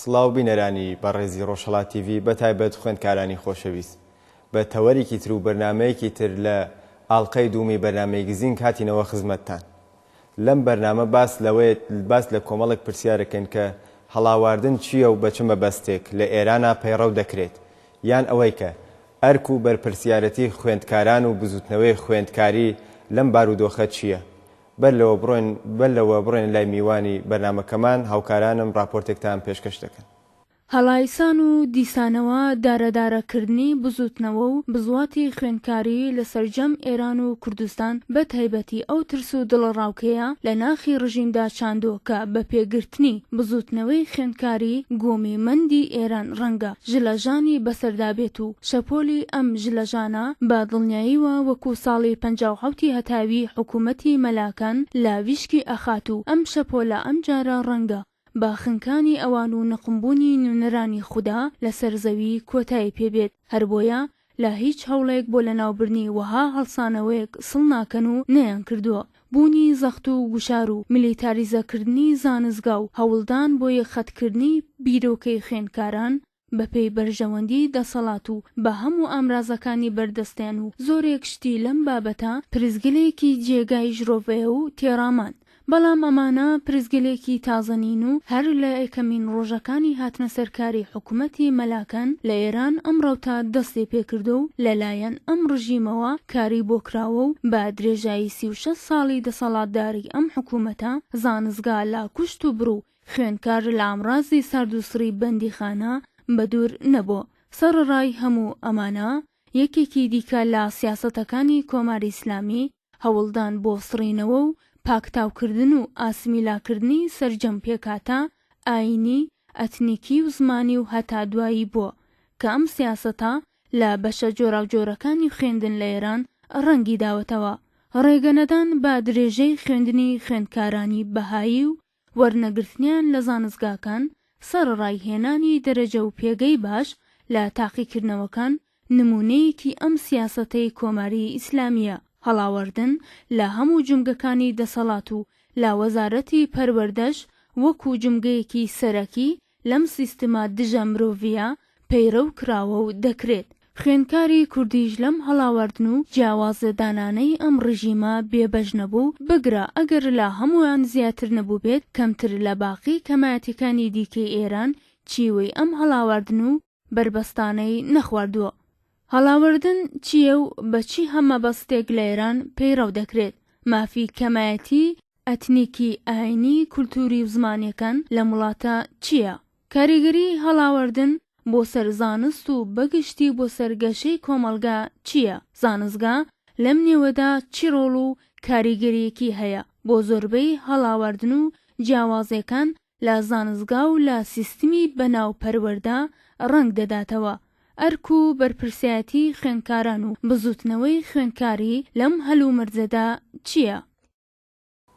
سڵاو بینەرانی بەڕێزی ڕۆژهەڵات تیڤی بە تایبەت خوێندکارانی خۆشەویست بە تەوەرێکی تر و بەرنامەیەکی تر لە ئاڵقەی دوومی بەرنامەی گزینگ هاتینەوە خزمەتتان لەم بەرنامە باس لەوەی باس لە کۆمەڵێک پرسیارەکەین کە هەڵاواردن چییە و بە چ مەبەستێک لە ئێرانا پەیڕەو دەکرێت یان ئەوەی کە ئەرک و بەرپرسیارەتی خوێندکاران و بزووتنەوەی خوێندکاری لەم بارودۆخە چییە بەر لەوە بڕۆین بەر لەوە بڕۆین لای میوانی بەرنامەکەمان هاوکارانم ڕاپۆرتێکتان پێشکەش دەکەن. هەڵایسان و دیسانەوە دارەدارەکردنی بزووتنەوە و بزواتی خوێندکاری لە سەرجەم ئێران و کوردستان بە تایبەتی ئەو ترس و دڵەڕاوکێیە لە ناخی ڕژیمدا چاندووە کە بە پێگرتنی بزووتنەوەی خوێندکاری گۆمی مەندی ئێران ڕەنگە ژلە ژانی بەسەردا بێت و شەپۆلی ئەم ژلە ژانە بە دڵنیایی وە وەکو ساڵی پەنجا و حەوتی هەتاوی حکوومەتی مەلاکان لە ویشکی ئەخات و ئەم شەپۆلە ئەم جارە ڕەنگە بە خنکانی ئەوان و نقمبوونی نوێنەرانی خودا لە سەر زەوی کۆتایی پێ بێت هەر بۆیە لە هیچ هەوڵێک بۆ لەناوبردنی وەها هەڵسانەوەیەک سڵ ناکەن و نەیانکردووە. بوونی زەخت و گوشار و میلیتاریزەکردنی زانستگا و هەوڵدان بۆ یەکخەتکردنی بیرۆکەی خوێندکاران بەپێی بەرژەوەندی دەسەڵات و بە هەموو ئامرازەکانی بەردەستیان و زۆرێک شتی لەم بابەتە پرسگلێکی جێگای ژرۆڤەیە و تێڕامان بەڵام ئەمانە پرسگەلێکی تازە نین و هەر لە یەکەمین ڕۆژەکانی هاتنە سەر کاری حکومەتی مەلاکان لە ئێران ئەم ڕەوتە دەستی پێکردوە و لە لایەن ئەم ڕژیمەوە کاری بۆ کراوە و بە درێژایی سی و شەش ساڵی دەسەڵاتداری ئەم حکومەتە زانستگا لە کوشت و برو خوێنکار لە ئامڕازی سارد و سڕی بەندیخانە بە دوور نەبوە. سەڕەڕای هەموو ئەمانە یەکێکی دیکە لە سیاسەتەکانی کۆماری ئیسلامی هەوڵدان بۆ سڕینەوە و پاکتاوکردن و ئاسمیلاکردنی سەرجەم پێکهاتە ئایینی، ئەتنیکی و زمانی و هەتا دوایی بووە، کە ئەم سیاسەتە لە بەشە جۆراوجۆرەکانی خوێندن لە ئێران ڕەنگی داوەتەوە. ڕێگەنەدان بە درێژەی خوێندنی خوێندکارانی بەهایی و وەرنەگرتنیان لە زانستگاکان، سەڕەڕای هێنانی دەرەجە و پێگەی باش لە تاقیکردنەوەکان، نموونەیەکی ئەم سیاسەتەی کۆماری ئیسلامییە، هەڵاوەردن لە هەموو جومگەکانی دەسەڵات و لە وەزارەتی پەروەردەش وەکو جومگەیەکی سەرەکی لەم سیستمە دژە مرۆڤیە پەیرەو کراوە و دەکرێت خوێندکاری کوردیش لەم هەڵاواردن و جیاوازە دانانەی ئەم ڕژیمە بێ بەش نەبوو، بگرە ئەگەر لە هەموان زیاتر نەبوبێت کەمتر لە باقی کەمایەتیەکانی دیکەی ئێران چیوەی ئەم هەڵاواردن و بەربەستانەی نەخواردووە. هەڵاوردن چییە و بە چی هە مەبەستێک لە ئێران پەیڕەو دەکرێت؟ مافی کەمایەتیی ئەتنیکی، ئایینی، کولتووری و زمانییەکان لەم وڵاتە چییە؟ کاریگەریی هەڵاوردن بۆ سەر زانست و بە گشتی بۆ سەر گەشەی کۆمەڵگا چییە؟ زانستگا لەم نێوەدا چی ڕۆڵ و کاریگەرییەکی هەیە بۆ زۆربەی هەڵاوردن و جیاوازییەکان لە زانستگا و لە سیستمی بەناو پەروەردە ڕەنگ دەداتەوە، ئەرک و بەرپرسایەتی خوێندکاران و بزوتنەوەی خوێندکاری لەم هەلومەرجەدا چییە؟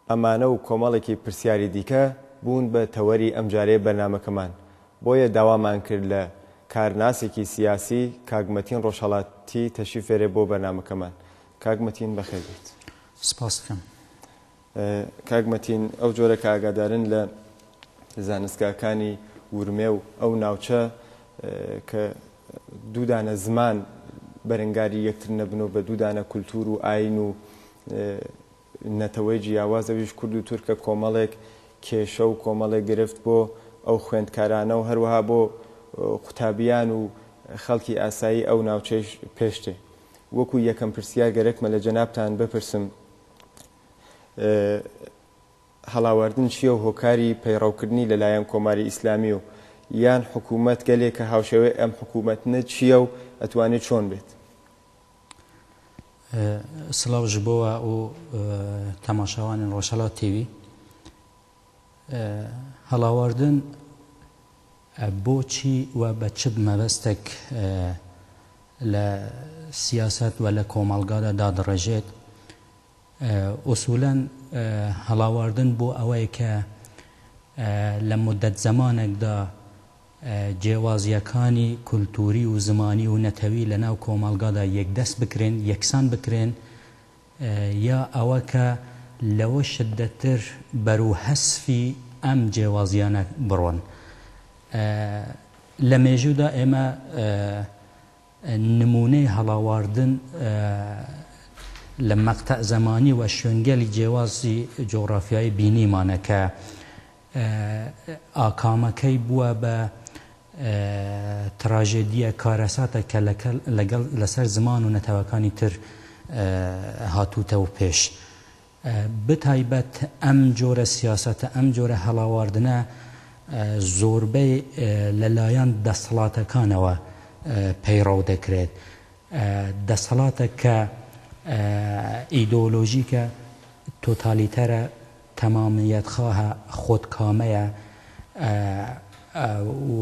ئەمانە و کۆمەڵێکی پرسیاری دیکە بوون بە تەوەری ئەمجارەی بەرنامەکەمان، بۆیە داوامان کرد لە کارناسێکی سیاسی کاک مەتین ڕۆژهەڵاتی تەشریف بێرێ بۆ بەرنامەکەمان. کاک مەتین بەخێربێیت. سپاست دەکەم. کاک مەتین ئەو جۆرە کە ئاگادارن لە زانستگاکانی ورمێ و ئەو ناوچە کە دوو دانە زمان بەرەنگاری یەکتر نەبن و بە دوو دانە کولتوور و ئاین و نەتەوەی جیاواز ئەویش کورد و تورکە کۆمەڵێک کێشە و کۆمەڵێک گرفت بۆ ئەو خوێندکارانە و هەروەها بۆ قوتابیان و خەڵکی ئاسایی ئەو ناوچەیش پێشتێ وەکو یەکەم پرسیار گەرەکمە لە جەنابتان بپرسم هەڵاواردن چییە و هۆکاری پەیڕەوکردنی لە لایەن کۆماری ئیسلامی و یان حکوومەت گەلێک کە هاوشێوەی ئەم حکوومەتنە چییە و ئەتوانێ چۆن بێت؟ سڵاو ژبۆوا و تەماشاوانن ڕۆژهەڵات تیڤی. هەڵاواردن بۆچی و بە چ مەبەستێک لە سیاسەت و لە کۆمەڵگادا دادەڕێژێت؟ ئوسوولەن هەڵاواردن بۆ ئەوەیە کە لە موددەت زەمانێکدا جێوازییەکانی کولتووری و زمانی و نەتەوی لەناو کۆمەڵگادا یەکدەست بکرێن، یەکسان بکرێن، یا ئەوە کە لەوە شددەت تر بەرو هەسفی ئەم جێوازیانە بڕۆن. لە مێژوودا ئێمە نموونەی هەڵاواردن لە مەقتەع زەمانی و شوێنگەلی جێوازی جوغرافیایی بینیمانە کە ئاکامەکەی بووە بە تراژێدییە کارەساتێک کە لەگەڵ لەسەر زمان و نەتەوەکانی تر هاتووتەوە پێش. بەتایبەت ئەم جۆرە سیاسەتە، ئەم جۆرە هەڵاواردنە زۆربەی لەلایەن دەسەڵاتەکانەوە پەیڕەو دەکرێت. دەسەڵاتێک کە ئیدۆلۆژیکە، تۆتالیتەرە، تەمامیەتخواهە خۆت کامەیە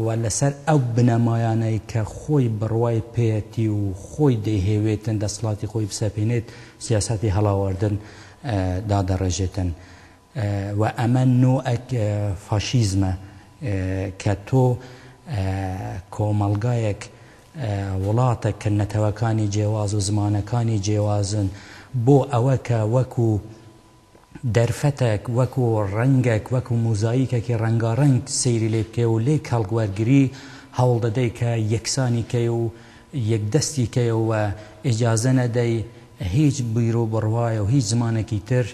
و لەسەر ئەو بنەمایانەی کە خۆی بڕوای پێیەتی و خۆی دەیهەوێتن دەسڵاتی خۆی بسەپێنێت سیاسەتی هەڵاواردن دادەڕێژێتن و ئەمە نۆعێک فاشیزمە کە تۆ کۆمەڵگایەک وڵاتەک کە نەتەوەکانی جێواز و زمانەکانی جێوازن بۆ ئەوە کە وەکو دەرفەتەک، وەکو ڕەنگەک، وەکو موزاییکەکی ڕەنگاڕەنگ سەیری لێ بکەی و لێی کەڵک وەرگری، هەوڵ دەدەی کە یەکسانی کەی و یەکدەستی کەیەوە و ئیجازە نەدەی هیچ بیروبڕوایە و هیچ زمانێکی تر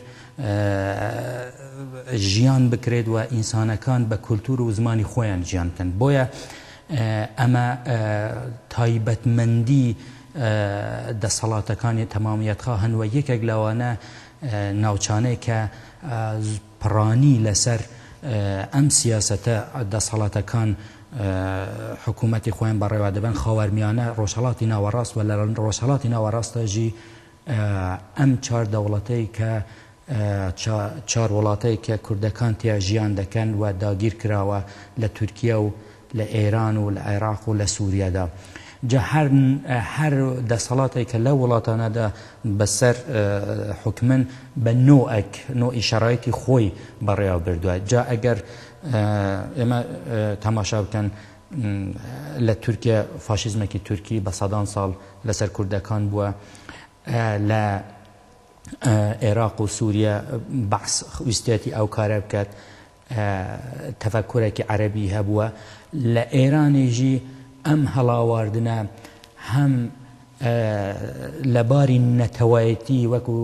ژیان بکرێت و ئینسانەکان بە کولتوور و زمانی خۆیان ژیان بکەن. بۆیە ئەمە تایبەتمەندی دەسەڵاتەکانی تەمامیەتخواهن و یەکێک لەوانە ناوچانەی کە پڕانی لەسەر ئەم سیاسەتە دەسهەڵاتەکان حکوومەتی خۆیان بەڕێوە دەبەن خاوەرمیانە ڕۆژهەڵاتی ناوەڕاست و لە ڕۆژهەڵاتی ناوەڕاستەژی ئەم چار دەوڵەتەی کە چار وڵاتەی کە کوردەکان تیا ژیان دەکەن و داگیر کراوە لە تورکیا و لە ئێران و لە عێراق و لە سوریادا جا هەر هەر دەسەڵاتێک کە لەو وڵاتانەدا بەسەر حوکمن بە نۆئەک نۆئی شەرایتی خۆی بەڕێوە بردووە جا ئەگەر ئێمە تەماشا بکەن لە تورکیا فاشیزمێکی تورکی بە سەدان ساڵ لەسەر کوردەکان بووە لە ئێراق و سووریا بەعس ویستێتی ئەو کارە بکات تەفەکورەکی عەرەبی هەبووە لە ئێرانیش ئەم هەڵاواردنە هەم لە باری نەتەوایەتی وەکو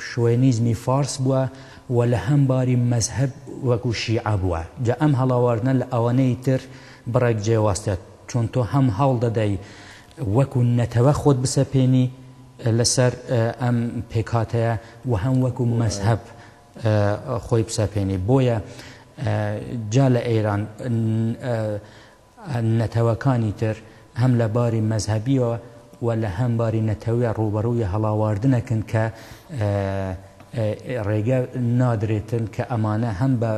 شوێنیزمی فارس بووە و لە هەم باری مەزهەب وەکو شیعە بووە جا ئەم هەڵاواردنە لە ئەوانەی تر بڕێک جێواستە چۆن تۆ هەم هەوڵ دەدەی وەکو نەتەوە خۆت بسەپێنی لەسەر ئەم پێکهاتەیە و هەم وەکو مەزهەب خۆی بسەپێنێ بۆیە جا لە ئێران نەتەوەکانی تر هەم لە باری مەزهبیەوە و لە هەم باری نەتەوە ڕوبەڕووی هەڵاواردنەکن کە ڕێگە نادرێتن کە ئەمانە هەم بە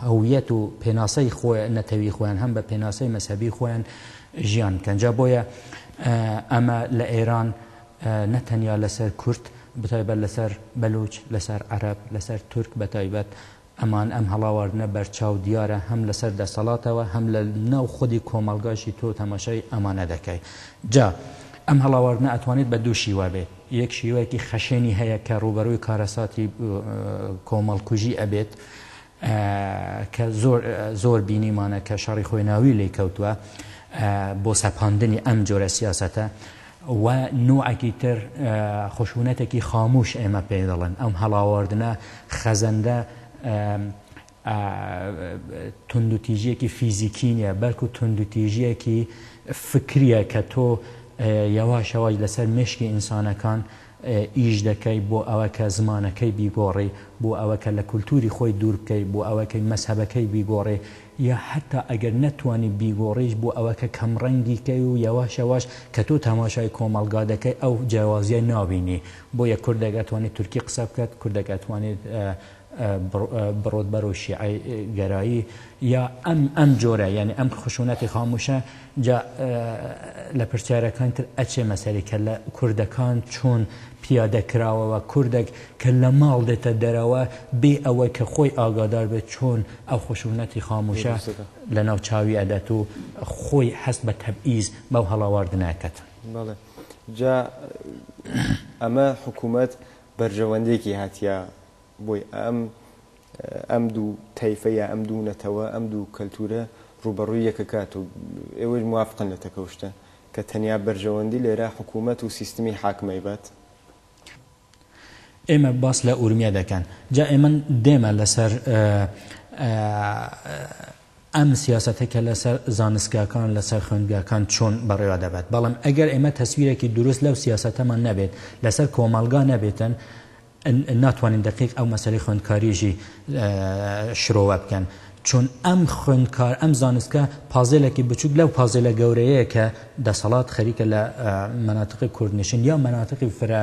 هەویەت و پێناسەی خۆی نەتەوی خۆیان هەم بە پێناسەی مەسەبی خۆیان ژیان کەنجا بۆیە ئەمە لە ئێران نە تەنیا لەسەر کورد بەتایبەت لەسەر بەلوچ لەسەر عەرەب لەسەر تورک بەتایبەت ئەمان ئەم هەڵاواردنە بەرچاو دیارە هەم لەسەر دەسەڵاتەوە هەم لە ناو خودی کۆمەڵگاشی تۆ تەماشای ئەمانە دەکەی جا ئەم هەڵاواردنە ئەتوانێت بە دوو شیوە بێت یەک شیوەیەکی خەشێنی هەیە کە ڕووبەرووی کارەساتی کۆمەڵکوژی ئەبێت کە زۆر زۆر بینیمانە کە شەڕی خۆی ناوی لێ کەوتووە بۆ سەپاندنی ئەم جۆرە سیاسەتە و نوعەکی تر خشونەتەکی خاموش ئێمە پێی دەڵێن ئەم هەڵاواردنە خەزەندە توندوتیژیەکی فیزیکی نیە بەلکو توندوتیژیەکی فکریە کە تۆ یەواشەوەی لەسەر مشکی ئینسانەکان ئیش دەکەی بۆ ئەوە کە زمانەکەی بیگۆڕی، بۆ ئەوە کە لە کولتووری خۆی دوور بکەی، بۆ ئەوە کە مەزهەبەکەی بیگۆڕی، یا حەتتا ئەگەر نەتوانی بیگۆڕیش بۆ ئەوە کە کەمڕەنگی کەی و یەواش یەواش کە تۆ تەماشای کۆمەڵگا دەکەی ئەو جیاوازییە نابینی. بۆیە کوردێک ئەتوانێت تورکی قسە بکات، کوردێک ئەتوانێت بڕۆت بەرەو شیعە گەرایی یا ئەم ئەم جۆرە یعنی ئەم خشونەتی خاموشە جا لە پرسیارەکان تر ئەچێ مەسەری کە لە کوردەکان چۆن پیادە کراوەوە کوردێک کە لە ماڵ دێتە دەرەوە بێ ئەوەی کە خۆی ئاگادار بێت چۆن ئەو خشونەتی خاموشە لە ناو چاوی ئەدەت و خۆی حەست بە تەبئیز بەو هەڵاواردنەکەت جا ئەمە حکوومەت بەرژەوەندێکی هاتیە بۆی ئەم ئەم دوو تەیفە یا ئەم دوو نەتەوە ئەم دوو کەلتورە ڕووبەڕووی یەکەکات و ئێوەش موافقن لە تەکەوشتە کە تەنیا بەرژەوەندی لێرە حکوومەت و سیستمی حاکمەی بات؟ ئێمە باس لە ئورمیە دەکەن جا ئێمن دێمە لەسەر ئەم سیاسەتە کە لەسەر زانستگاکان، لەسەر خوێندگاکان چۆن بەڕێوە دەبات، بەڵام ئەگەر ئێمە تەسویرێکی دروست لەو سیاسەتەمان نەبێت، لەسەر کۆمەڵگا نەبێتن، ناتوانین دەقیق ئەو مەسەلەی خوێندکاریشی شرۆڤە بکەن، چون ئەم خوێندکار، ئەم زانستگا پازێلێکی بچووک لەو پازێلە گەورەیەیە کە دەسەڵات خەریکە لە مەناتقی کوردنشین یا مەناتقی فرە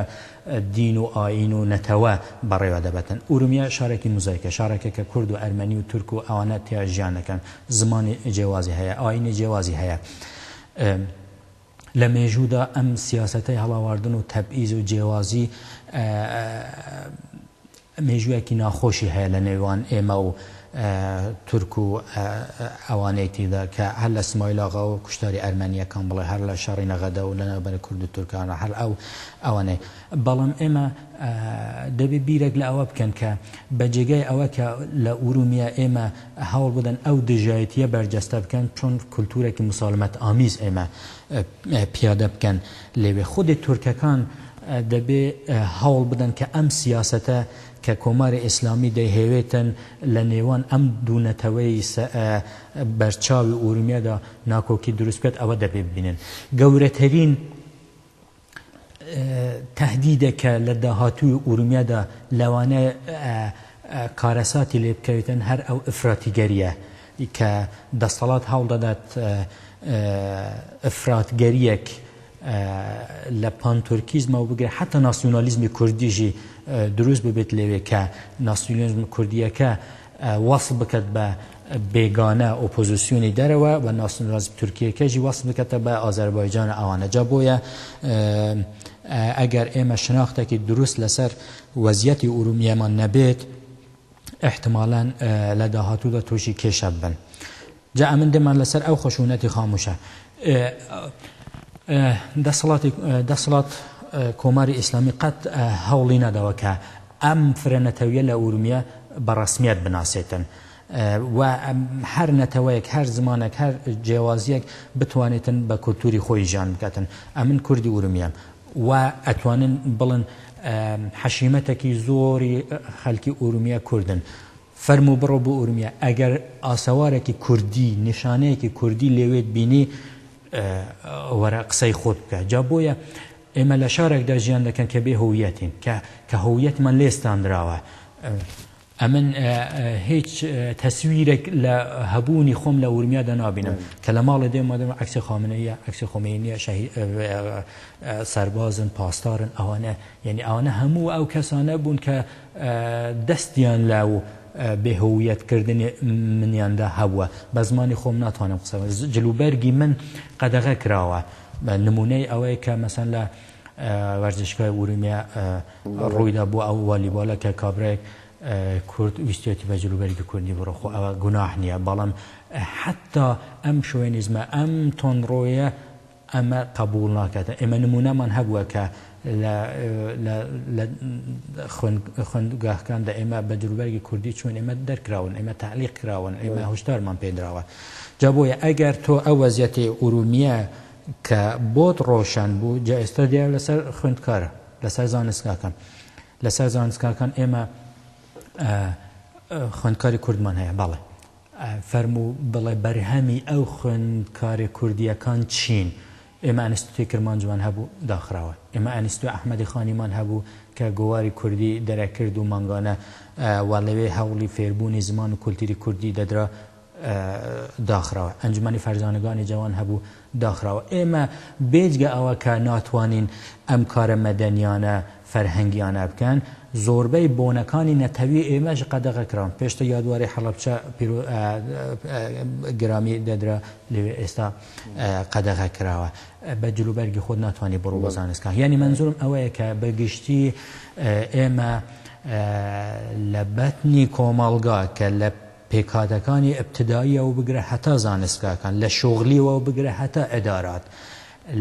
دین و ئایین و نەتەوە بەڕێوە دەبەتن. ئورومیە شارێکی موزایکە، شارێکە کە کورد و ئەرمەنی و تورک و ئەوانە تیا ژیان دەکەن. زمانی جێوازی هەیە، ئایینی جێوازی هەیە. لە مێژوودا ئەم سیاسەتەی هەڵاواردن و تەبعیز و جێوازی مێژوویەکی ناخۆشی هەیە لە نێوان ئێمە و تورک و ئەوانەی تیدا کە هەر لە سمایل ئاغا و کوشتاری ئەرمەنییەکان بڵێ هەر لە شەڕی نەغەدە و لەنێوبەر کورد و تورکانە هەر ئەو ئەوانەی بەڵام ئێمە دەبێ بیرێک لە ئەوە بکەن کە بە جێگای ئەوە کە لە ئورومیە ئێمە هەوڵ بدەن ئەو دژایەتییە بەرجەستە بکەن چۆن کولتوورێکی مسالمەت ئامیز ئێمە پیادە بکەن لەوێ خودێ تورکەکان دەبێ هەوڵ بدەن کە ئەم سیاسەتە کە کۆماری ئیسلامی دەیهەوێتن لە نێوان ئەم دوو نەتەوەی بەرچاوی ئورومیەدا ناکۆکی دروست بکات ئەوە دەبێ ببینن گەورەترین تەهدیدە کە لە داهاتووی ئورومیەدا لەوانەیە کارەساتی لێ بکەوێتن هەر ئەو ئەفراتیگەرییە ی کە دەستەڵات هەوڵدەدات ئەفراتگەرییەک لە پانتورکیزمەوە بگرێت حەتا ناسیونالیزمی کوردیشی دروست ببێت لەوێ کە ناسیونالیزمە کوردییەکە وەسف بکات بە بێگانە ئۆپۆزیسیۆنی دەرەوە و ناسیونالیزم تورکییەکەشی وەسف بکاتە بە ئازەربایجان و ئەوانە جا بۆیە ئەگەر ئێمە شناختێکی دروست لەسەر وەزیەتی ئورومییەمان نەبێت ئیحتمالەن لە داهاتوودا تووشی کێشە ببن جا ئەمن دێمان لەسەر ئەو خشونەتی خاموشە دەسەڵاتی دەسەڵات کۆماری ئیسلامی قەت هەوڵی نەدەوە کە ئەم فرە نەتەویە لە ئورمیە بە ڕسمیت بناسێتن و هەر نەتەوەیەک هەر زمانێک هەر جیاوازیەک بتوانێتن بە کولتوری خۆی ژیان بکاتن ئەمن کوردی ئورمیەم وا ئەتوانن بڵن حەشیمەتەکی زۆری خەلکی ئورومیە کوردن فەرموو بڕۆ بۆ ئورومیە ئەگەر ئاسەوارەکی کوردی نیشانەیەکی کوردی لێوێت بینی وەرە قسەی خۆت بکە جا بۆیە ئێمە لە شارێکدا ژیان دەکەن کە بێ هویەتین کە کە هویەتمان لێستاندراوە ئەمن هیچ تەسویرێک لە هەبوونی خۆم لە ورمیادا نابینم کە لە ماڵێ دێم مادەم عکسی خامنەیە عکسی خۆمێنیە شەهی سەربازن پاسدارن ئەوانە یعنی ئەوانە هەموو ئەو کەسانە بوون کە دەستیان لە و بێهویەتکردنی منیاندا هەبووە بە زمانی خۆم ناتوانم قسە جلوبەرگی من قەدەغە کراوە نمونەی ئەوەیە کە مەسەن لە وەرزشگای ئورومیە ڕوویدا بۆ ئەو والیبۆلە کە کابرایەک کورد ویستویەتی بە جلوبەرگی کوردی بڕۆ خۆ ئەوە گوناح نیە بەڵام حەتا ئەم شۆوێنیزمە ئەم تۆنڕۆیە ئەمە قەبوڵ ناکاتە ئێمە نمونەمان هەبووە کە لە لە لە خوێندگاهکاندا ئێمە بە جلوبەرگی کوردی چوین ئێمە دەرکراون ئێمە تەعلیق کراون ئێمە هۆشدارمان پێدراوە جا بۆیە ئەگەر تۆ ئەو وەزیەتی ئورومیە کە بۆت ڕۆشەن بوو جا ئێستا دێ لەسەر خوێندکارە لەسەر زانستگاکان لەسەر زانستگاکان ئێمە خوێندکاری کوردمان هەیە بەڵێ فەرمو بڵێ بەرهەمی ئەو خوێندکاری کوردیەکان چین ئێمە ئەنستتوی کرمان جوان هەبوو داخراوە ئێمە ئەنستتوی ئەحمەدی خانیمان هەبوو کە گۆواری کوردی دەرەکرد و مانگانە و لەوێ هەوڵی فێربوونی زمان و کولتیری کوردی دەدرا داخراوە ئەنجومەنی فەرزانەگانی جەوان هەبوو داخراوە ئێمە بێجگە ئەوە کە ناتوانین ئەم کارە مەدەنیانە فەرهەنگیانە بکەن زۆربەی بۆنەکانی نەتەوی ئێمەش قەدەغە کراون پێشتە یادواری حەڵەبچە پیرو گرامی دەدرا لەوێ ئێستا قەدەغە کراوە بە جلوبەرگی خۆت ناتوانانی بڕۆ بە زانستکان یعنی منزورم ئەوەیە کە بەگشتی ئێمە لە بەتنی کۆمەڵگا کە لە پێکهاتەکانی ئیبتدائیە و بگرە هەتا زانستگاکان، لە شوغلی و بگرە هەتا ئیدارات،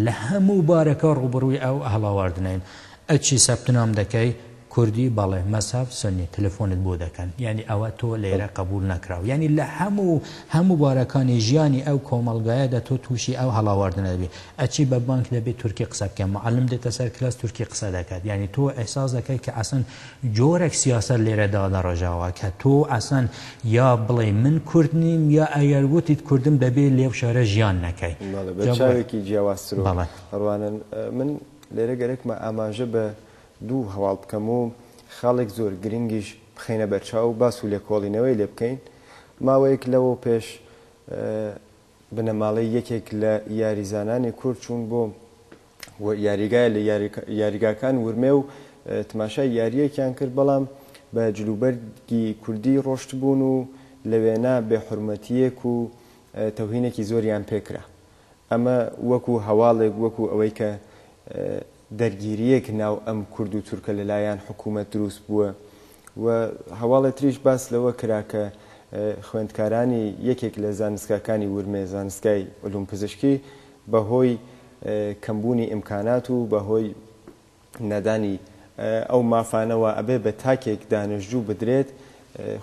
لە هەموو بارەکە ڕووبەڕووی ئەو هەڵاواردنەین، ئەی چی سەپتنام دەکەی؟ کوردی، بەڵێ، مەزهەب، سوننی، تەلەفۆنت بۆ دەکەن، یانی ئەوە تۆ لێرە قەبووڵ نەکراو، یانی لە هەموو هەموو بارەکانی ژیانی ئەو کۆمەڵگایەدا تۆ تووشی ئەو هەڵاواردنە دەبی، ئەی چی بە بانک دەبێ تورکی قسە بکەی، موعەلم دێتە سەر کلاس تورکی قسە دەکات، یانی تۆ ئیحساس دەکەی کە ئەسڵەن جۆرەک سیاسەت لێرە دادەڕژاوە کە تۆ ئەسڵەن یا بڵێی من کورد نیم یا ئەگەر وتیت کوردم دەبێ لەو شارە ژیان نەکەی. بەڵێ بە چاوێکی جیاوازترو ڕوانن. من لێرە گەرەکمە ئاماژە بە دوو هەواڵ بکەم و خاڵێک زۆر گرنگیش بخەینە بەرچاو و باس و لێکۆڵینەوەی لێ بکەین. ماوەیەک لەوەو پێش بنەماڵەی یەکێک لە یاریزانانی کورد چوون بۆ یاریگای لە یاریگاکان ورمێ و تماشای یارییەکیان کرد، بەڵام بە جلوبەرگی کوردی ڕۆشتبوون و لە وێنا بێ حورمەتییەک و تەوهینێکی زۆریان پێکرا. ئەمە وەکو هەواڵێک وەکو ئەوەی کە دەرگیریەک ناو ئەم کورد و تورکە لەلایان حکومەت دروست بووە و هەواڵێ تریش باس لەوە کرا کە خوێندکارانی یەکێک لە زانستگاکانی ورمێ زانستگای علوم پزشکی بە هۆی کەم بوونی ئیمکانات و بە هۆی نەدانی ئەو مافانەوە ئەبێ بە تاکێک دانشجوو بدرێت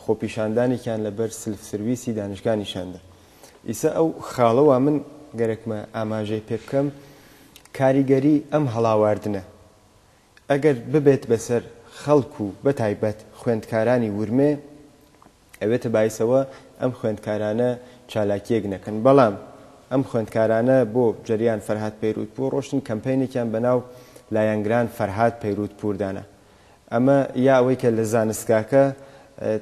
خۆپیشاندانێکیان لە بەر سلف سرویسی دانشگا نیشان دا. ئیسە ئەو خاڵە وا من گەرەکمە ئاماژەی پێ بکەم کاریگەری ئەم هەڵاواردنە ئەگەر ببێت بەسەر خەڵک و بە تایبەت خوێندکارانی ورمێ ئەبێتە بایسەوە ئەم خوێندکارانە چالاکیەک نەکەن بەڵام ئەم خوێندکارانە بۆ جەریان فەرهاد پەیروت پوور ڕۆشتن کەمپەینێکیان بەناو لایەنگران فەرهاد پەیروت پوور دانا. ئەمە یا ئەوەی کە لە زانستگاکە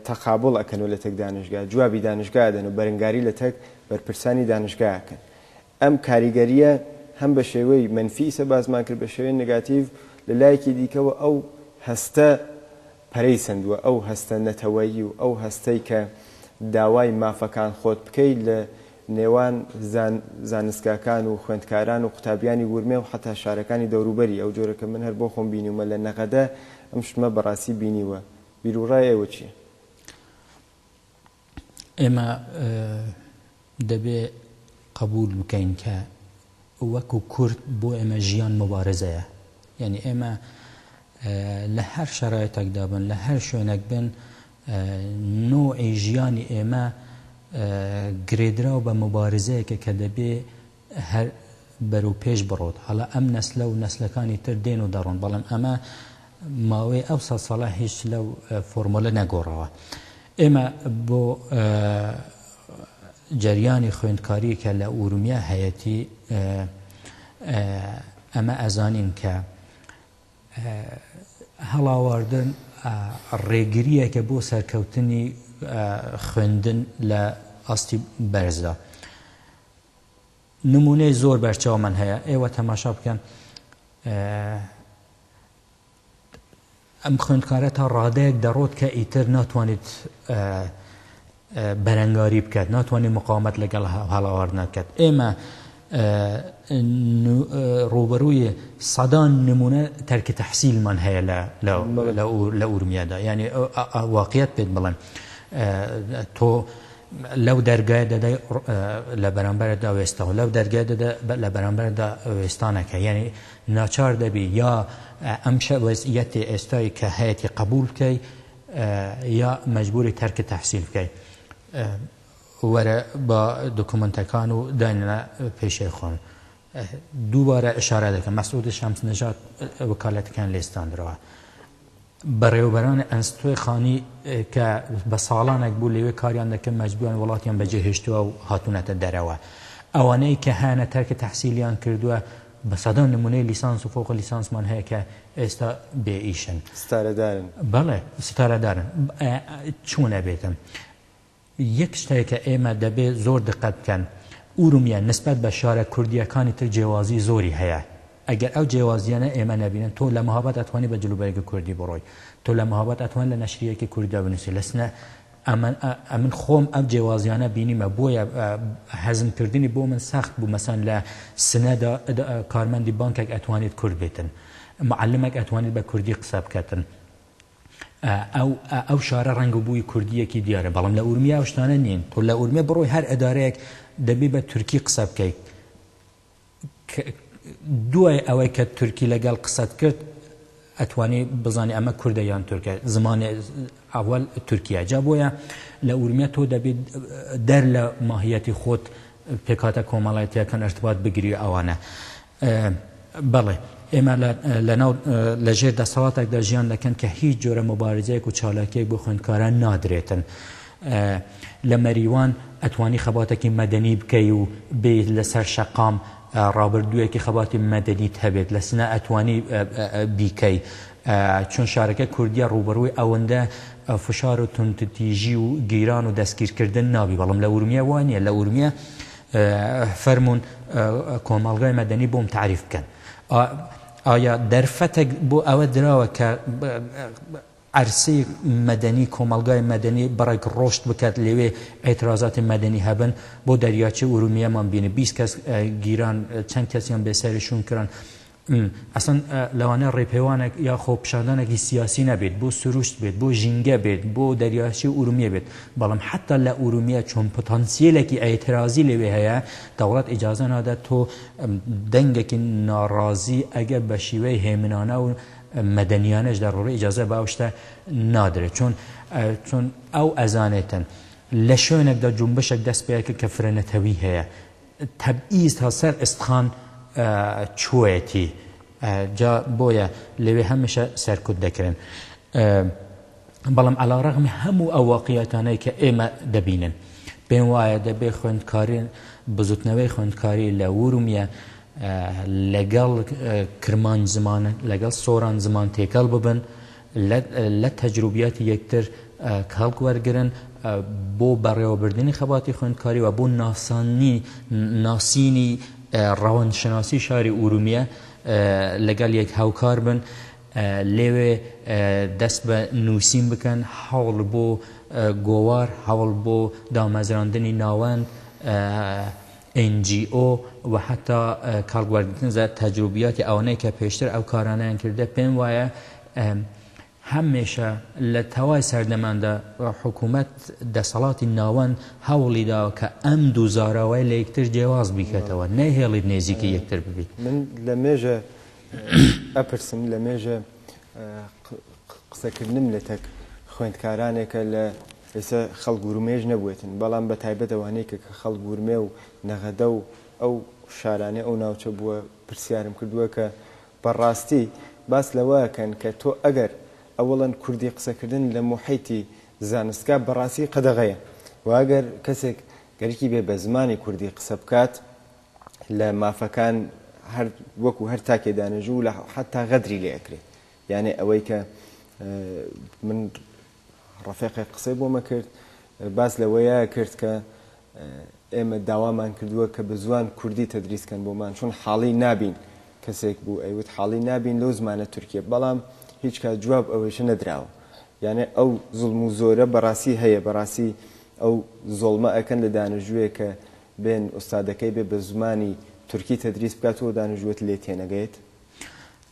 تەقابوڵ ئەکەن و لەتەک دانشگا جوابی دانشگا ئەدەن و بەرنگاری لەتەک بەرپرسانی دانشگا ئەکەن. ئەم کاریگەرییە هەم بە شێوەی مەنفی ئیسە باسمان کرد بە شێوەی نگاتیڤ، لە لایەکی دیکەوە ئەو هەستە پەرەی سەندووە، ئەو هەستە نەتەوەیی و ئەو هەستەی کە داوای مافەکان خۆت بکەی لە نێوان زانستگاکان و خوێندکاران و قوتابیانی ورمێ و حەتا شارەکانی دەوروبەری ئەو جۆرە کە من هەر بۆ خۆم بینیومە لە نەغەدە ئەم شتمە بەڕاستی بینیوە بیروڕای ئێوە چیە؟ ئێمە دەبێ قەبوول بکەین کە وەکو کورد بۆ ئێمە ژیان موبارزەیە یعنی ئێمە لە هەر شەرایتەکدا بن لە هەر شوێنەک بن نوعی ژیانی ئێمە گرێدراو بە مبارزەیەکە کە دەبێ هەر بەرو پێش بڕۆت هەڵا ئەم نەسلە و نەسلەکانی تر دێن و دەڕۆن بەڵام ئەمە ماوەی ئەو سەد ساڵە هیچ لەو فۆرمۆلە نەگۆڕاوە. ئێمە بۆ جەریانی خوێندکاری کە لە ئورومیا هەیەتی ئەمە ئەزانین کە هەڵاواردن ڕێگریەکە بۆ سەرکەوتنی خوێندن لە ئاستی بەرزدا. نمونەی زۆر بەرچاومان هەیە ئێوە تەماشا بکەن ئەم خوێندکارە تا ڕادەیەک دەڕۆت کە ئیتر ناتوانێت بەرەنگاری بکات ناتوانێت مقاومەت لەگەڵ هەڵاواردنەکەت ئێمە ڕوبەرووی سەدان نمونە تەرکی تەحسیلمان هەیە لە ئورمیادا یعنی واقعیت پێت بڵێن تۆ لەو دەرگای دەدە لە بەرامبەر دا وێستا و لەو دەرگای دەدە لە بەرامبەر دا وێستانەکە یعنی ناچار دەبی یا ئەم شە وەزئیەتی ئێستای کە هەیەی قبول بکەی یا مەجبوری تەرکی تەحسیل بکەی وەرە بە دکومنتەکان و داینە پێشێ خۆن. دووبارە ئیشارە دەکەم مەسعود شەمس نەژاد وەکالەتەکەیان لێ ستاندرەوە بەڕێوەبەران ئەنستۆی خانی کە بە ساڵانێک بوو لەوێ کاریان دەکەن مەجبووان وڵاتیان بەجێ هێشتووە و هاتوونەتە دەرەوە ئەوانەی کە هەیانە تەرکە تەحسیلیان کردووە بە سەدان نمونەی لیسانس و فۆق لیسانسمان هەیە کە ئێستا بێ ئیشن ستارەدارن بەڵێ ستارەدارن چوونە بێتم یەک شتەیە کە ئێمە دەبێ زۆر دقەت بکەن، ئورومیە نسبەت بە شارە کوردییەکانی تر جێوازی زۆری هەیە، ئەگەر ئەو جێوازییانە ئێمە نەبینن، تۆ لە مەهاباد ئەتوانی بە جلوبەرگی کوردی بڕۆی، تۆ لە مەهاباد ئەتوانی لە نەشرییەکی کوردیدا بنووسی، لە سنە، ئەمن، ئەمن خۆم ئەم جێوازییانە بینیمە، بۆیە هەزم کردنی بۆ من سەخت بوو، مەسەن لە سنەدا کارمەندی بانکێک ئەتوانیت کورد بێتن، معەلمێک ئەتوانیت بە کوردی قسە بکەتن، ئەو شارە ڕەنگ و بووی کوردییەکی دیارە بەڵام لە ئورمیە ئەو شتانە نین تۆ لە ئورمیە بڕۆی هەر ئەدارەیەک دەبێ بە تورکی قسە بکەیت دوای ئەوەی کە تورکی لەگەڵ قسەت کرد ئەتوانی بزانانی ئەمە کووردە یان تورکە زمانی ئاوال تورکیا جا بۆیە لە ئورمیە تۆ دەبێت دەر لە ماهیەتی خۆت پێکاتە کۆمەڵایەتەکان ئەرتبات بگری ئەوانە بەڵێ، ئێمە لەناو لە ژێر دەسەڵاتێکدا ژیان دەکەن کە هیچ جۆرە موبارزەیەک و چالاکیەک بۆ خوێندکاران نادرێتن. لە مەریوان ئەتوانی خەباتێکی مەدەنی بکەی و بێیت لەسەر شەقام ڕابردوویەکی خەباتی مەدەنیت هەبێت، لە سنە ئەتوانی بیکەی، چون شارەکە کوردیە ڕووبەڕووی ئەوەندە فشار و توندتیژی و گیران و دەستگیرکردن نابی، بەڵام لە ئورمیە وا نیە، لە ئورمیە فەرموون کۆمەڵگای مەدەنی بۆم تەعریف بکەن. ئایا دەرفەتێک بۆ ئەوە دراوە کە عەرسەی مەدەنی کۆمەڵگای مەدەنی بڕێک ڕۆشت بکات لەوێ ئێترازاتی مەدەنی هەبن بۆ دەریاچەی ئورومیەمان بینی بیست کەس گیران چەند کەسیان بێسەرشون کران ئەسڵەن لەوانەیە ڕێپێوانێک یا خۆپیشاندانێکی سیاسی نەبێت، بۆ سروشت بێت، بۆ ژینگە بێت، بۆ دەریاچەی ئورومیە بێت، بەڵام حەتا لە ئورومیە چۆن پتانسیەلێکی ئێترازی لەوێ هەیە، دەوڵەت ئیجازە نادات تۆ دەنگێکی ناڕازی ئەگەر بە شیوەی هێمنانە و مەدەنیانەش دەڕوڕێ ئیجازە بە ئەو شتە نادرێت، چۆن چۆن ئەو ئەزانێتن لە شوێنێکدا جونبشێک دەست پێکرد کە فرەنەتەوی هەیە، تەبئیز تا سەر ئێستخان چووەیەتی جا بۆیە لەوێ هەمیشە سەرکوت دەکرێن بەڵام عەلا ڕەغمی هەموو ئەو واقعیەتانەی کە ئێمە دەبینن پێم وایە دەبێ خوێندکارین بزوتنەوەی خوێندکاری لە ورومیە لەگەڵ کرمان زمان لەگەڵ سۆران زمان تێکەڵ ببن لە تەجروبیاتی یەکتر کەڵک وەرگرن بۆ بەڕێوەبردنی خەباتی خوێندکاری و بۆ ناسانی ناسینی ڕەوەندشناسی شاری ئورومیە لەگەڵ یەک هاوکار بن لێوێ دەست بە نووسین بکەن هەوڵ بۆ گۆوار هەوڵ بۆ دامەزراندنی ناوەند NGO، و هەتا کاڵ گواردن زە تەجروبیاتی ئەوانەی کە پێشتر ئەو کارانەیان کردە پێم وایە هەمێشە لە تەوای سەردەماندا حکوومەت دەسەڵاتی ناوەند هەوڵی داوە کە ئەم دوو زاراوەی لە یەکتر جێواز بیکەتەوە نەیهێڵیت نێزیکی یەکتر ببیت. من لە مێژە ئەپرسم لە مێژە قسەکردنم لەتەک خوێندکارانێکە لە ئێستا خەڵک ورمێش نەبوێتن بەڵام بە تایبەت ئەوانەی کە کە خەڵک ورمێ و نەغەدە و ئەو شارانەی ئەو ناوچە بووە پرسیارم کردووە کە بە ڕاستی باس لەوە ئەکەن کە تۆ ئەگەر ئەوڵەن کوردی قسە کردن لە موحیتی زانستگا بە ڕاستی قەدەغەیە و ئەگەر کەسێک گەرکی بێ بە زمانی کوردی قسە بکات لە مافەکان هەر وەکوو هەر تاکێ دانێژوو لە حەتا غەدری لێ ئەکرێ یانێ ئەوەی کە من ڕەفێقێک قسەی بۆ مە کرد باس لە وە یە کرد کە ئێمە داوامان کردووە کە بە زوان کوردی تەدریس کەن بۆ مان چون حاڵی نابین کەسێک بوو ئەی وت حاڵی نابین لەو زمانە تورکیە بەڵام هیچ کات جواب ئەوەیشە نەدراوە یانێ ئەو زڵم و زۆرە بەڕاستی هەیە بەڕاستی ئەو زۆڵمە ئەکەن لە دانژوێ کە بێن ئوستادەکەی بێ بە زمانی تورکی تەدریس بکات و دانژوت لێ تێنەگەیت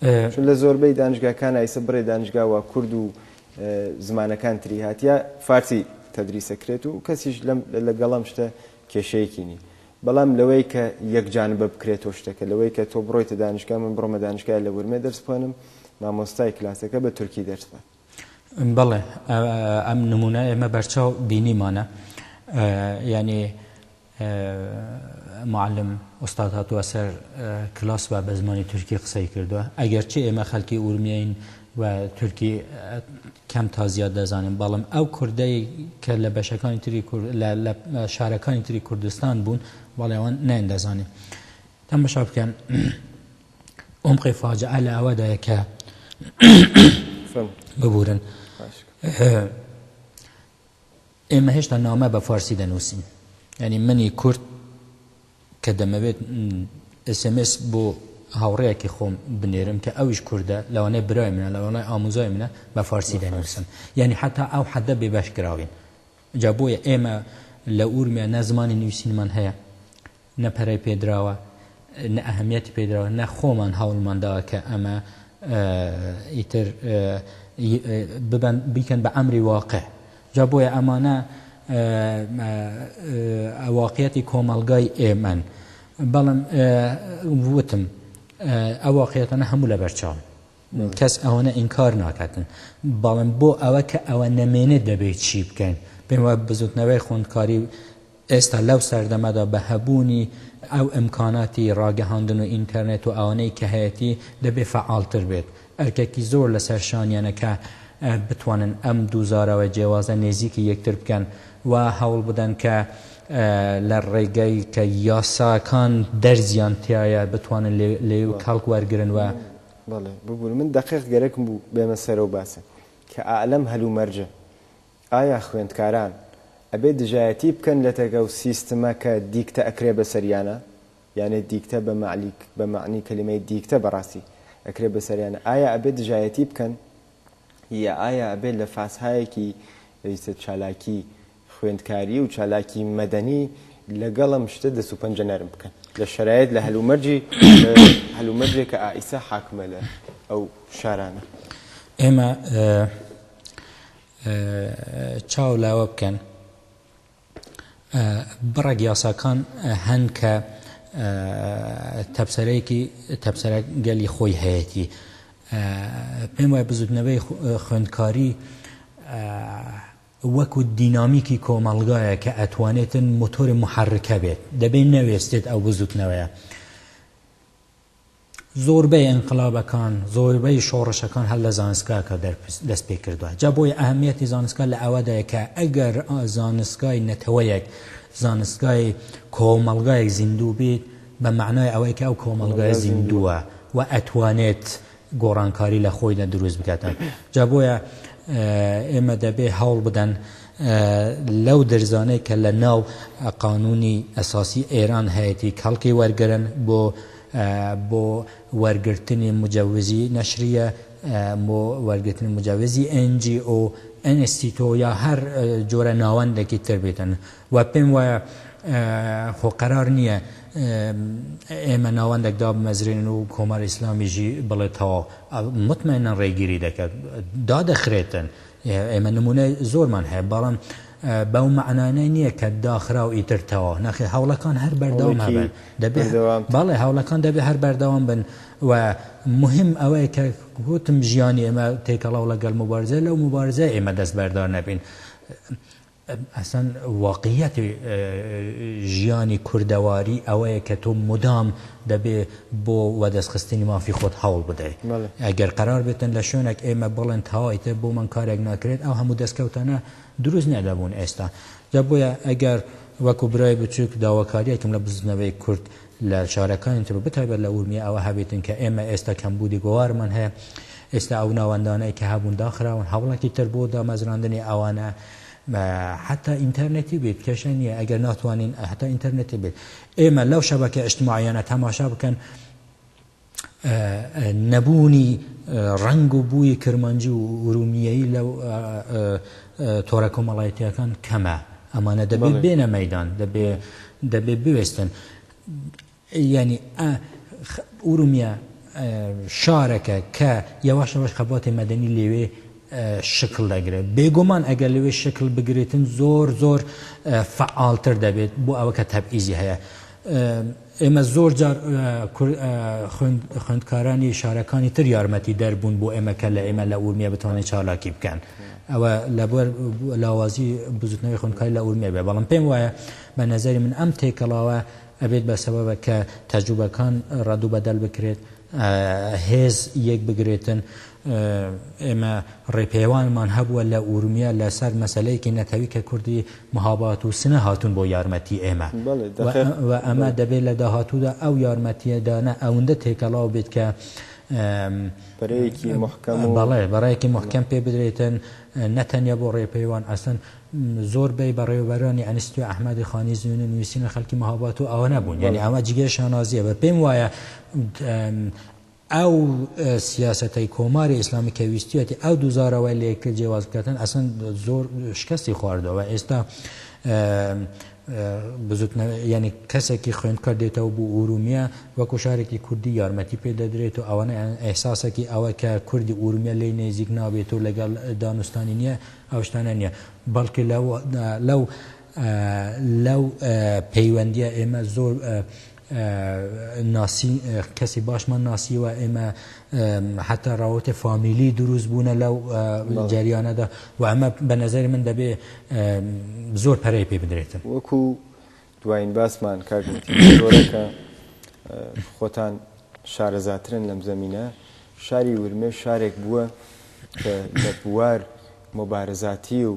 چون لە زۆربەی دانشگاکان ئایسە بڕێ دانشگا وا کورد و زمانەکان تری هاتیە فارسی تەدریس ئەکرێت و کەسیش لەم لەگەڵ ئەم شتە کێشەیەکی نی بەڵام لەوەی کە یەکجانبە بکرێتەوە شتەکە لەوەی کە تۆ بڕۆیتە دانشگا من بڕۆمە دانشگای لە ورمێ دەرس بخوێنم مامۆستای کلاسەکە بە تورکی دەرس بات بەڵێ ئەم نمونە ئێمە بەرچاو بینیمانە یعنی معلم ئوستاد هاتووە سەر کلاس و بە زمانی تورکی قسەی کردووە ئەگەر چی ئێمە خەلکی ئورمیین و تورکی کەم تا زیاد دەزانین بەڵم ئەو کوردەی کە لە بەشەکانی تری لە شارەکانی تری کوردستان بوون بەڵێوان نایندەزانین تەمەشا بکەن عمقی فاجعە لە ئەوەدایە کە ببورن ئێمە هێشتا نامە بە فارسی دەنووسین ینی منی کورد کە دەمەوێت ئسMS بۆ هاوڕەیەکی خۆم بنێرم کە ئەویش کووردە لەوانەیە برای منە لەوانای ئاموزای منە بە فارسی دەنووسن یعنی حتا ئەو حەدە بێ بەش کراوین جا بۆیە ئێمە لە ئورمیا نە زمانی نووسینمان هەیە، نە پەرەی پێ دراوە، نە ئەهەمیەتی پێ دراوە، نە خۆمان هەوڵمان داوە کە ئەمە ئیتر ببن بیکەن بە ئەمری واقع. جا بۆیە ئەمانە واقعیەتی کۆمەڵگای ئێمەن. بەڵام وتم ئەو واقعیەتانە هەموو لەبەرچاون. کەس ئەوەنە ئینکار ناکاتن بەڵم بۆ ئەوە کە ئەوە نەمێنێت دەبێت چی بکەین پێم وە بزوتنەوەی خوندکاری ئێستا لەو سەردەمەدا بە هەبوونی ئەو ئەمکاناتی ڕاگەهاندن و ئینتەرنێت و ئەوانەی کە هەیەتی دەبێ فعاالتر بێت ئەرکێکی زۆر لەسەر شانیانەکە بتوانن ئەم دووزارەوە جێوازە نێزیکی یەکتر بکەن و هەوڵ بدەن کە لە ڕێگەی کە یاساکان دەرزیان تایە بتوانن لێ و کەڵک وەرگن و بەڵێ ببورە من دەقیق گەرەکم بوو بێمە سەرەو باسەکە کە ئائە لەم هەل و مەرجە ئایا خوێندکاران ئەبێ دژایەتی بکەن لە تەکە و سیستمە کە دیکتە ئەکرێ بە سەریانا یانێ دیکتە بە مەعلیک بە مەعنی کەلیمەی دیکتە بە ڕاستی ئەکرێ بە سەریانا ئایا ئەبێ دژایەتی بکەن یا ئایا ئەبێ لە فاسهایەکی ئیتر چالاکی خوێندکاری و چالاکی مەدەنی لەگەڵ ئەم شتە دەست و پەنجە نەرم بکەن لە شەرایەت لە هەلومەرجی هەلومەرجێک کە ئائیسا حاکمە لە ئەو شارانە ئێمە چاو لاوە بکەن بڕێک یاساکان هەن کە تەپسەرێکی تەپسەرە گەلی خۆی هەیەی پێم وای بزوتنەوەی خوێندکاری وەکو دینامیکی کۆمەڵگایە کە ئەتوانێت مۆتۆر محرکە بێت دەبێت نەوێستێت ئەو بزوتنەوەیە زۆربەی ئینقلابەکان زۆربەی شۆڕشەکان هەر لە زانستگاکە دەست پێ کردووە جا بۆی ئەهمیەتی زانستگا لە ئەوەدایە کە ئەگەر زانستگای نەتەوەیەک زانستگای کۆمەڵگایەک زیندوو بێت بە معنای ئەوەی کە ئەو کۆمەڵگای زیندووە و ئەتوانێت گۆڕانکاری لە خۆیدا دروست بکاتن جا بۆیە ئێمە دەبێ هەوڵ بدەن لەو درزانەی کە لە ناو قانونی ئەساسی ئێران هەیەی کەڵکی وەرگرن بۆ بۆ وەرگرتنی مجەوزی نەشریە بۆ وەرگرتنی مجاوزی ئەنجی ئۆ ئەنستیتۆ یا هەر جۆرە ناوەندێکی تر بێتن و پێم وایە خۆ قەرار نییە ئێمە ناوەندێک دابمەزرێنین و کۆماری ئیسلامیشی بڵێ تەواو متمەینا ڕێگیری دەکات دادەخرێتن ئێمە نمونەی زۆرمان هەیە بەڵام بەو معنانەی نییە کە داخرا و ئیتر تەواو نەخی هەوڵەکان هەر بەردەوام هەبن دەبێت بەڵێ هەوڵەکان دەبێت هەر بەردەوام بن و مهم ئەوەیە کە گوتم ژیانی ئێمە تێکەڵاو لەگەڵ مبارزە لەو مبارزە ئێمە دەست بەردار نەبین ئەسڵەن واقعیەتی ژیانی کوردەواری ئەوەیە کە تۆ مدام دەبێ بۆ وەدەستخستنی مافی خۆت هەوڵ بدەی. ئەگەر قەرار بێتن لە شوێنێک ئێمە بڵێن تەواو ئیتر بۆمان کارێک ناکرێت، ئەو هەموو دەستکەوتانە دروست نەدەبوون ئێستا. جا بۆیە ئەگەر وەکو برای بچووک داواکارییەکم لە بزووتنەوەی کورد، لە شارەکانی تر و بەتایبەت لە ئورمیە ئەوە هەبێتن کە ئێمە ئێستا کەمبوودی گۆوارمان هەیە، ئێستا ئەو ناوەندانەی کە هەبوون داخراون، هەوڵێکی تر بۆ دامەزراندنی ئەوانە حەتا ئینتەرنێتی بێت کێشە نییە، ئەگەر ناتوانین حەتا ئینتەرنێتی بێت ئێمە لەو شەبەکە ئیجتماعییانە تەماشا بکەن، نەبوونی ڕەنگ و بووی کرمانجی و ئورومییەیی لە تۆرە کۆمەڵایەتییەکان کەمە، ئەمانە دەبێ بێنە مەیدان، دەبێ بوێستن. یانی ئورومییە شارەکە کە یەواش یەواش خەباتی مەدەنی لەوێ شکڵ دەگرێ. بێگومان ئەگەر لەوێ شکڵ بگرێتن زۆر زۆر فەعالتر دەبێت بۆ ئەوە کە تەبعیزی هەیە. ئێمە زۆر جار خوێندکارانی شارەکانی تر یارمەتیدەر بوون بۆ ئێمە کە لە ئێمە لە ئورمیە بتوانێت چالاکی بکەن ئەوە لەبەر لاوازی بزوتنەوەی خوێندکاری لە ئورمیە بێ بەڵام پێم وایە بە نەزەری من ئەم تێکەڵاوە ئەبێت بە سەبەبە کە تەجوبەکان ڕەدوو بەدەل بکرێت هێز یەک بگرێتن ئێمە ڕێپێوانمان هەبووە لە ئورمیە لە سەر مەسەلەیەکی نەتەوی کە کوردی مهاباد و سنە هاتوون بۆ یارمەتی ئێمە و ئەمە دەبێت لە داهاتوودا ئەو یارمەتیە دانە ئەوندە تێکەڵاو بێت کە بەرەیەکی مەحکەم و بەڵێ بەرەیەکی مەحکەم پێ بدرێتن نە تەنیا بۆ ڕێپێوان ئەسلەن زۆر بەی بەڕێوەبەرانی ئەنستیتوی ئەحمەدی خانی زوێنە نووسینە خەلکی مهاباد و ئەوە نەبوون یانی ئەمە جگەی شانازیە بە پێم وایە ئەو سیاسەتەی کۆماری ئیسلامی کە ویستیەتی ئەو دوو زارەوەی لە یەکتر جێواز بکاتن ئەسن زۆر شکەستی خواردەوە ئێستا ینی کەسێکی خوێندکە دێتەوە بۆ ئورومیە وەکو شارێکی کوردی یارمەتی پێ دەدرێت و ئەوانە ئەحساسێکی ئەوە کە کوردی ئورومیە لی نێزیک نابێت و لەگەڵ دانوستانی نییە ئەو شتانە نییە بەڵکە لەو لەو پەیوەندیە ئێمە زۆر ناسی کەسی باشمان ناسیوە ئێمە حتا ڕاوەتە فامیلی دروست بوونە لەو جاریانەدا و ئەمە بە نظری من دەبێ زۆر پەرەی پێ بدرێتن وەکو دوایین باسمان کاکە خۆتان شارەزاترن لەم زەمینە شاری ورمێ شارێک بووە لە بوار مبارزاتی و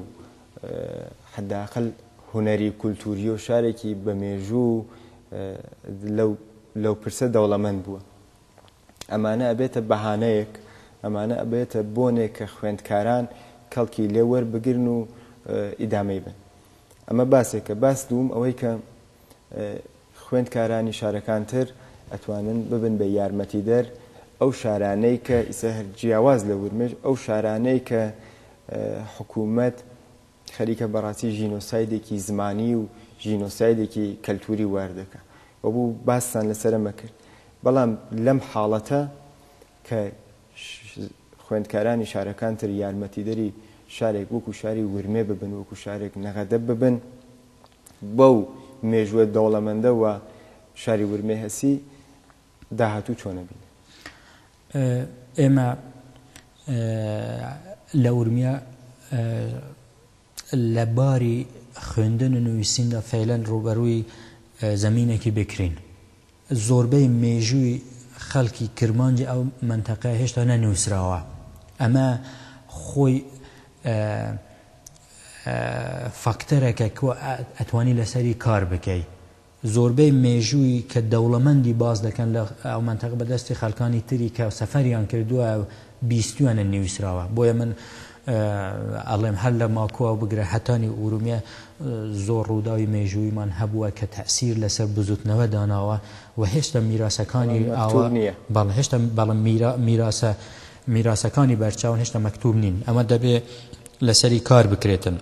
حەداقل هونەری و کولتووری و شارێکی بە مێژوو و لەو لەو پرسە دەوڵەمەند بووە ئەمانە ئەبێتە بەهانەیەک ئەمانە ئەبێتە بۆنێک کە خوێندکاران کەڵکی لێ وەربگرن و ئیدامەی بن ئەمە باسێکە باس دووم ئەوەی کە خوێندکارانی شارەکان تر ئەتوانن ببن بە یارمەتیدەر ئەو شارانەی کە ئیسە هەر جیاواز لە ورمێش ئەو شارانەی کە حکوومەت خەریکە بەڕاستی ژینۆسایدێکی زمانی و ژینۆسایدێکی کەلتوری واردەکە و بوو باستان لەسرە مەکرد بەڵام لەم حاڵەتە کە خوێندکارانی شارەکان تر یارمەتیدەری شارێک وەکو شاری ورمێ ببن وەکو شارێک نەغەدە ببن بەو مێژووە دەوڵەمەندە و شاری ورمێ هەسی داهاتوو چۆن ئەبینن؟ ئێمە لە ورمێ لە باری خوێندن و نووسیندا فەیلەن ڕووبەرووی زەمینێکی بکرین زۆربەی مێژووی خەڵکی کرمانجی ئەو مەنتەقەیە هێشتا نەنووسراوە، ئەمە خۆی فاکتەرەکە کە ئەتوانی لەسەری کار بکەی. زۆربەی مێژووی کە دەوڵەمەندی باس دەکەن لە ئەو مەنتەقە بە دەستی خەڵکانی تری کە سەفەریان کردووە بیستویانە نیوسراوە بۆیە من ئەڵێم هەر لە ماکوواو بگرە هەتا نیو ئورومیە زۆر ڕووداوی مێژوویمان هەبووە کە تەئسیر لەسەر بزوتنەوە داناوە و هێشتا میراسەکانی ئاوا بەڵێ هێشتا بەڵێ میرا میراسە میراسەکانی بەرچاون هێشتا مەکتوب نین ئەمە دەبێ لەسەری کار بکرێتن.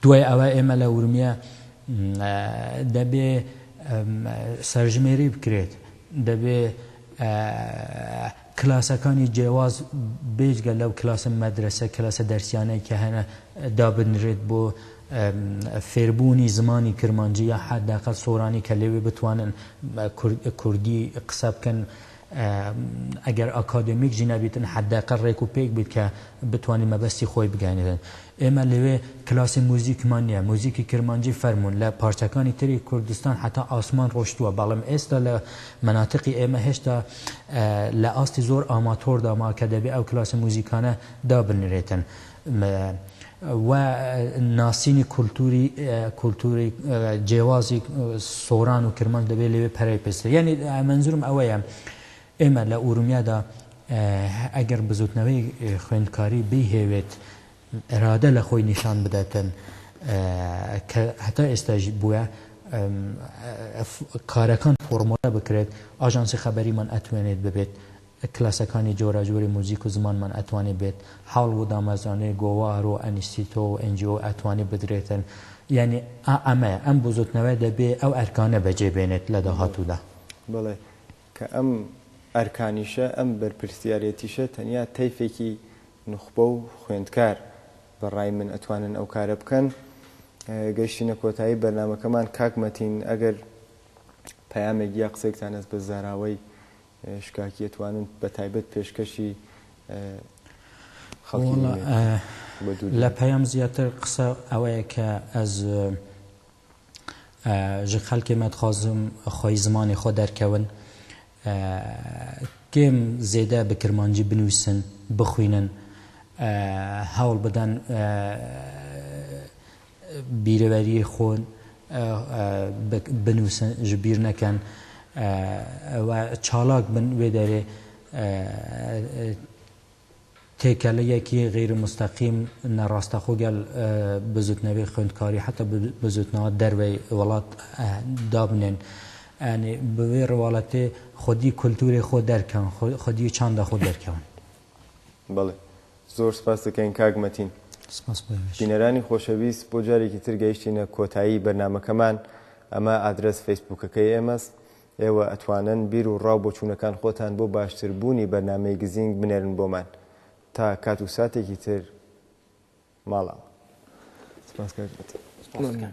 دوای ئەوە ئێمە لە ورمێ دەبێ سەرژمێری بکرێت دەبێ کلاسەکانی جیاواز بێجگە لەو کلاسە مەدرسە کلاسە دەرسیانەی کە هەنە دابنرێت بۆ فێربوونی زمانی کرمانجی یا حداقل سۆرانی کە لەوێ بتوانن کوردی قسە بکەن ئەگەر ئاکادێمیک جی نەبیتن حەداقەل رێک و پێک بیت کە بتوانی مەبەستی خۆی بگەیەنیتن. ئێمە لەوێ کلاسی موزیکمان نیە. موزیکی کرمانجی فەرموون لە پارچەکانی تری کوردستان هەتا ئاسمان رۆشتووە بەڵم ئێستا لە مەناتقی ئێمە هێشتا لە ئاستی زۆر ئاماتۆردامە کە دەبێ ئەو کلاسی موزیکانە دابنرێتن. م و ناسینی کولتووری کولتووری جێوازی سۆران و کرمانج دەبێ لەوێ پەرەی پێسترێ یانی مەنزوورم ئەوەیە ئێمە لە ئورومیادا ئەگەر بزووتنەوەی خوێندکاری بیهێوێت ئرادە لە خۆی نیشان بداتن کە هەتا ئێستاش بووە کارەکان فۆرمۆلە بکرێت ئاژانسی خەبەریمان ئەتوێنێت ببێت کلاسەکانی جۆراجۆری موزیک و زمانمان ئەتوانێ بێت حاڵ و دامەزرانەی گۆوار و ئەنیستیتۆ و NGO ئەتوانێ بدرێتن یانی ئا ئەمەیە ئەم بزوتنەوە دەبێ ئەو ئەرکانە بەجێ بێنێت لە داهاتوودا. بەڵێ کە ئەم ئەرکانیشە ئەم بەرپرسیارێتیشە تەنیا تەیفێکی نوخبە و خوێندکار بە ڕای من ئەتوانن ئەو کارە بکەن. گەیشتینە کۆتایی بەرنامەکەمان کاک مەتین ئەگەر پەیامێک یا قسەیکتان هەست بە زاراوەی شکاکی ئەتوانن بە تایبەت پێشکەشی خەڵکی بە دوو دەنگ. وەڵا لە پەیام زیاتر قسە ئەوەیە کە ئەز ژە خەلکێ مەدخوازم خوەی زمانێ خوە دەرکەون کێم زێدە بە کرمانجی بنویسن، بخوینن، هەوڵ بدەن. بیرەوەریی خۆن بنووسن، ژ بیر نەکەن و چالاک بن، وێ دەێ تێکەڵەیەکی غەیر موستەقیم، ناڕاستەخۆ گەڵ بزووتنەوەی خوێندکاری حەتا بزووتنەوە دەروەی وڵات دابنێن. یانی بە وێ ڕواڵەتێ خودی کولتوورێ خۆ دەرکەون، خودی چاندە خۆ دەرکەون. بەڵێ. زۆر سپاست دەکەین کاک مەتین. سپاس بۆ ئێوەش. بینەرانی خۆشەویست بۆ جارێکی تر گەیشتینە کۆتایی بەرنامەکەمان ئەمە ئادرەس فەیسبووکەکەی ئێمەس ئێوە ئەتوانن بیر و ڕاو بۆچوونەکان خۆتان بۆ باشتر بوونی بەرنامەی گزینگ بنێرن بۆمان تا کات و ساتێکی تر ماڵاوە سپاس کاک مەتین. سپاست دەکەم.